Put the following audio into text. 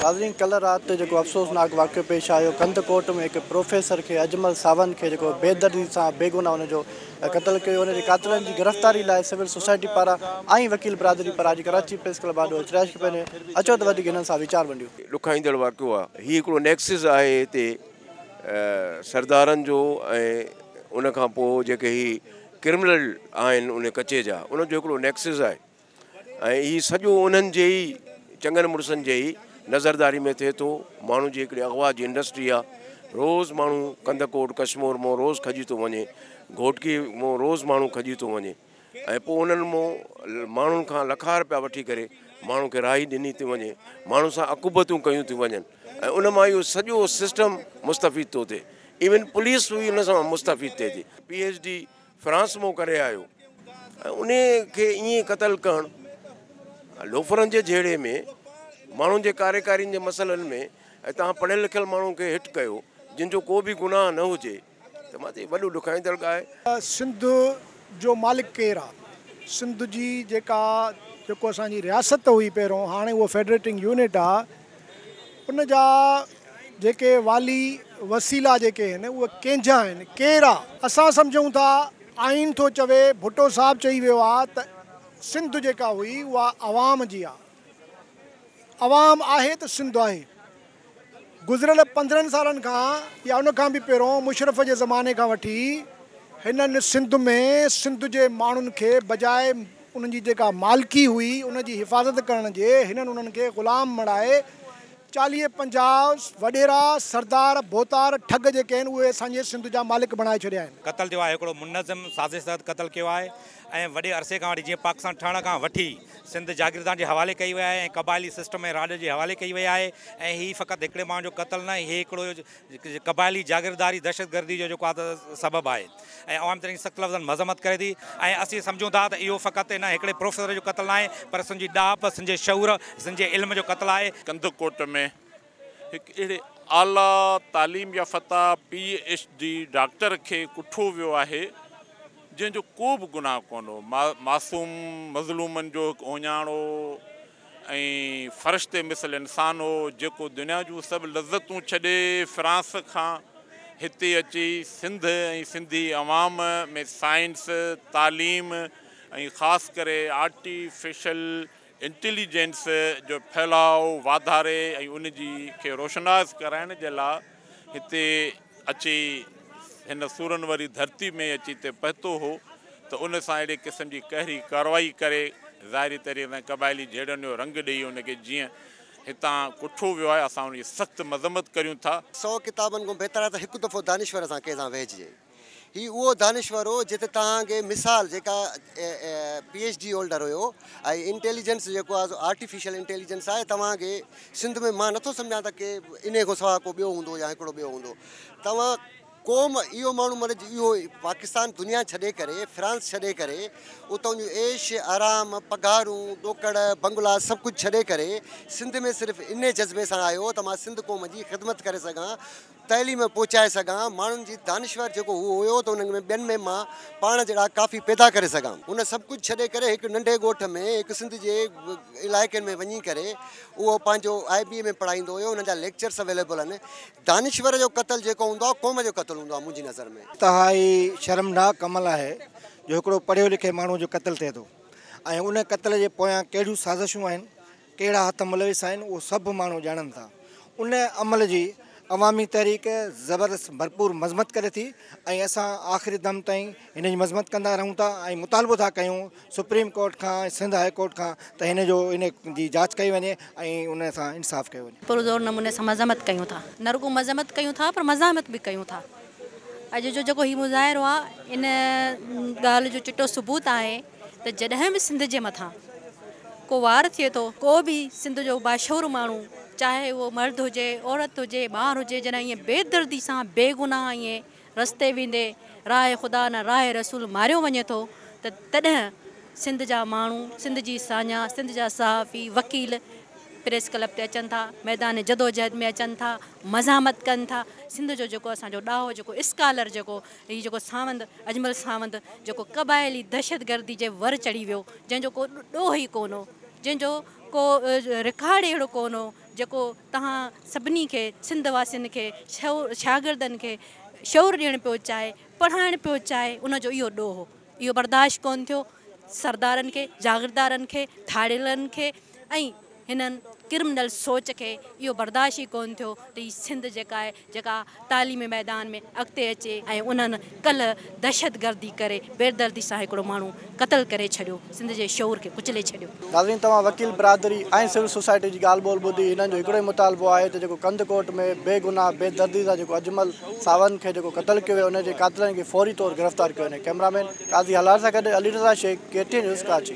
ناظرين ڪلهه رات تي جيڪو افسوسناڪ واقعو پيش آيو ڪنڌڪوٽ ۾ هڪ پروفيسر کي اجمل ساوند کي جيڪو بيدردي سان بيگناهه هن جو قتل ڪيو هن جي قاتلن جي گرفتاري لاء سول سوسائٽي پاران ۽ وڪيل برادري پاران اڄ ڪراچي پريس ڪلب آڏو اچرائش ڪئي پئي اچو ته وڌيڪ هنن سان ويچار ونڊيون. ڏکائيندڙ واقعو آ هي هڪڙو نيڪسز آهي هتي سردارن جو ۽ ان کان پوء جيڪي هي ڪرمنل آهن ان ڪچي جا انهن جو هڪڙو نيڪسز آهي. ۽ هي سڄو انهن جي ئي چڱن مڙسن جي ئي نظرداري ۾ ٿئي ٿو. ماڻهو جي هڪڙي اغوا جي انڊسٽري آ. روز ماڻهو ڪنڌ ڪوٽ ڪشمور مون روز کڄي ٿو وڃي. گهوٽڪي مون روز ماڻهو کڄي ٿو وڃي ۽ پوء انهن مون ماڻهن کان لکا رپيا وٺي ڪري ماڻهن کي راهي ڏني ٿي وڃي. ماڻهن سان عقوبتون ڪيون ٿيون وڃن ۽ ان مان اهو سڄو سسٽم مستفيد ٿو ٿئي. ايون پوليس به ان سان مستفيد ٿئي ٿي. پي ايڇ ڊي فرانس مون ڪري آيو ۽ انهي کي ائين قتل ڪرڻ لوفرن جي جهيڙي ۾ ماڻهن جي ڪاريڪارين جي مسئلن ۾ ۽ توهان پڙهيل لکيل ماڻهن کي هٽ ڪيو جن جو ڪو به گناهه نه هجي ته مان تي وڏو ڏکائيندڙ ڳاهي. سنڌ جو مالڪ ڪير آ؟ سنڌ جي جيڪا جيڪو اسان جي رياست هئي پهريون هاڻي اهو فيڊريٽنگ يونٽ آ. ان جا جيڪي والي وسيلا جيڪي آهن اهي ڪنهنجا آهن ڪير آ اسان سمجهون ٿا آئين ٿو چوي ڀٽو صاحب چئي ويو آ ته سنڌ جيڪا هئي اها عوام جي آ عوام آهي ته سنڌ آهي گذريل پندرهن سالن کان يا ان کان به پهرون مشرف جي زماني کان وٺي هنن سنڌ ۾ سنڌ جي ماڻهن کي بجاء انهن جي جيڪا مالڪي هئي، ان جي حفاظت ڪرڻ جي هنن انهن کي غلام مڙهائي چاليهه پنجاهه وڏيرا، سردار، ڀوتار، ٺڳ جيڪي آهن اهي اسان جي سنڌ جا مالڪ بڻائي ڇڏيا آهن. قتل ٿيو آهي هڪڙو منظم سازش تحت قتل ڪيو آهي ۽ وڏي عرصي کان وٺي جيئن پاڪستان ٺهڻ کان وٺي سنڌ جاگيردارن جي حوالي ڪئي وئي آهي ۽ قبائلي سسٽم ۽ راڄ جي حوالي ڪئي وئي آهي ۽ هي فقط هڪڙي ماڻهو جو قتل نه هي هڪڙو قبائلي جاگيرداري دهشتگردي جو جيڪو آهي ته سبب آهي ۽ عوام ترين سخت لفظن مذمت ڪري ٿي ۽ اسين سمجهون ٿا ته اهو فقط ان هڪڙي پروفيسر جو قتل ناهي پر سن جي ڏاهپ، سن جي شعور، سن جي علم جو قتل آهي. ڪنڌڪوٽ ۾ هڪ اهڙي اعليٰ تعليم يافته پي ايڇ ڊي ڊاڪٽر کي ڪٺو ويو آهي جنهن جو ڪو به گناهه ڪونه هو معصوم مظلومن جو هڪ اهڃاڻو ۽ فرشتي مثل انسان هو، جيڪو دنيا جون سڀ لذتون ڇڏي فرانس کان هتي اچي سنڌ ۽ سنڌي عوام ۾ سائنس، تعليم ۽ خاص ڪري آرٽيفيشل انٽيليجنس جو ڦهلاء واڌاري ۽ ان جي کي روشناس ڪرائڻ جي لاء هتي اچي هن سورن واري ڌرتي ۾ اچي هتي پهتو هو ته ان سان اهڙي قسم جي قهري ڪارروائي ڪري ظاهري طريقي سان قبائلي جهيڙن جو رنگ ڏئي ان کي جيئن هتان ڪٺو ويو آهي اسان ان جي سخت مذمت ڪريون ٿا. سؤ ڪتابن کان بهتر آهي ته هڪ دفعو دانشور سان ڪنهن سان ويهجي. هي اهو دانشور هو جت توهان کي مثال جيڪا پي ايڇ ڊي هولڊر هيو ۽ انٽيليجنس جيڪو آهي سو آرٽيفيشل انٽيليجنس آهي توهان کي سنڌ ۾ مان نٿو سمجهان ته ڪي انهي کان سواء ڪو ٻيو هوندو يا هڪڙو ٻيو هوندو توهان قوم اهو ماڻهو مطلب اهو پاڪستان دنيا ڇڏي ڪري فرانس ڇڏي ڪري اتان جون عيش آرام پگهارون ڏوڪڙ بنگلا سڀ ڪجهه ڇڏي ڪري سنڌ ۾ صرف انهي جذبي سان آيو ته مان سنڌ قوم جي خدمت ڪري سگهان تعليم پهچائي سگهان، ماڻهن جي دانشور جيڪو هو هيو ته انهن ۾ ٻين ۾ مان پاڻ جهڙا ڪافي پيدا ڪري سگهان. هن سڀ ڪجهه ڇڏي ڪري هڪ ننڍي ڳوٺ ۾ هڪ سنڌ جي علائقن ۾ وڃي ڪري اهو پنهنجو آء بي اي ۾ پڙهائيندو هيو هن جا ليڪچرس اويليبل آهن دانشور جو قتل جيڪو هوندو آهي قوم جو قتل هوندو آهي منهنجي نظر ۾. انتهائي شرمناڪ عمل آهي جو هڪڙو پڙهيو لکي ماڻهو جو قتل ٿئي ٿو ۽ ان قتل جي پويان ڪهڙيون سازشون آهن ڪهڙا هٿ ملوث آهن اهو سڀ ماڻهو ڄاڻن ٿا. ان عمل جي عوامي تحريڪ زبردست ڀرپور مذمت ڪري ٿي ۽ اسان آخري دم تائين هن جي مذمت ڪندا رهون ٿا ۽ مطالبو ٿا ڪيون سپريم ڪورٽ کان ۽ سنڌ هاء ڪورٽ کان ته هن جو ان جي جاچ ڪئي وڃي ۽ ان سان انصاف ڪيو وڃي. پرزور نموني سان مذمت ڪيون ٿا نه رڳو مذمت ڪيون ٿا پر مزاحمت به ڪيون ٿا. اڄ جو جيڪو هي مظاهرو آهي ان ڳالهه جو چٽو ثبوت آهي ته جڏهن به سنڌ جي مٿان ڪو وار ٿئي ٿو، ڪو به سنڌ جو باشعور ماڻهو چاهي اهو مرد هجي، عورت هجي، ٻار هجي جڏهن ائين بي دردي سان بي گناهه ائين رستي ويندي راء خدا نه راء رسول ماريو وڃي ٿو ته تڏهن سنڌ جا ماڻهو، سنڌ جي ساڃاهه، سنڌ جا صحافي، وڪيل پريس ڪلب تي اچن ٿا، ميدان جدوجهد ۾ اچن ٿا، مزاحمت ڪن ٿا، سنڌ جو جيڪو اسان جو ڏاهو جيڪو اسڪالر جيڪو هي جيڪو ساوند اجمل ساوند جيڪو قبائلي دهشتگردي جي ور چڙهي ويو جنهن جو ڪو ڏوهه ئي ڪونه هو جنهن جو ڪو رڪارڊ ئي اهڙو ڪونه هو جيڪو توهان سڀني کي سنڌ واسين کي شو شاگردن کي شعور ڏيڻ پيو چاهي پڙهائڻ پيو چاهي ان جو اهو ڏوهه هو اهو برداشت ڪونه ٿيو. سردارن کي، جاگيردارن کي، ڌاڙيلن کي ۽ هنن ڪرمنل سوچ کي اهو برداشت ئي ڪونه ٿيو ته هي سنڌ جيڪا آهي جيڪا تعليمي ميدان ۾ اڳتي اچي ۽ انهن ڪلهه دهشتگردي ڪري بيدردي سان هڪڙو ماڻهو قتل ڪري ڇڏيو سنڌ جي شعور کي ڪچلي ڇڏيو. ناظرين توهان وڪيل برادري ۽ سول سوسائٽي جي ڳالهه ٻولهه ٻڌي هنن جو هڪڙو ئي مطالبو آهي ته جيڪو ڪنڌڪوٽ ۾ بي گناهه بي دردي سان جيڪو اجمل ساوند کي جيڪو قتل ڪيو ويو ان جي قاتلن کي فوري طور گرفتار ڪيو وڃي، ڪئميرا مين قاضي هلال سان گڏ Ali Raza Shaikh, K T N news Karachi.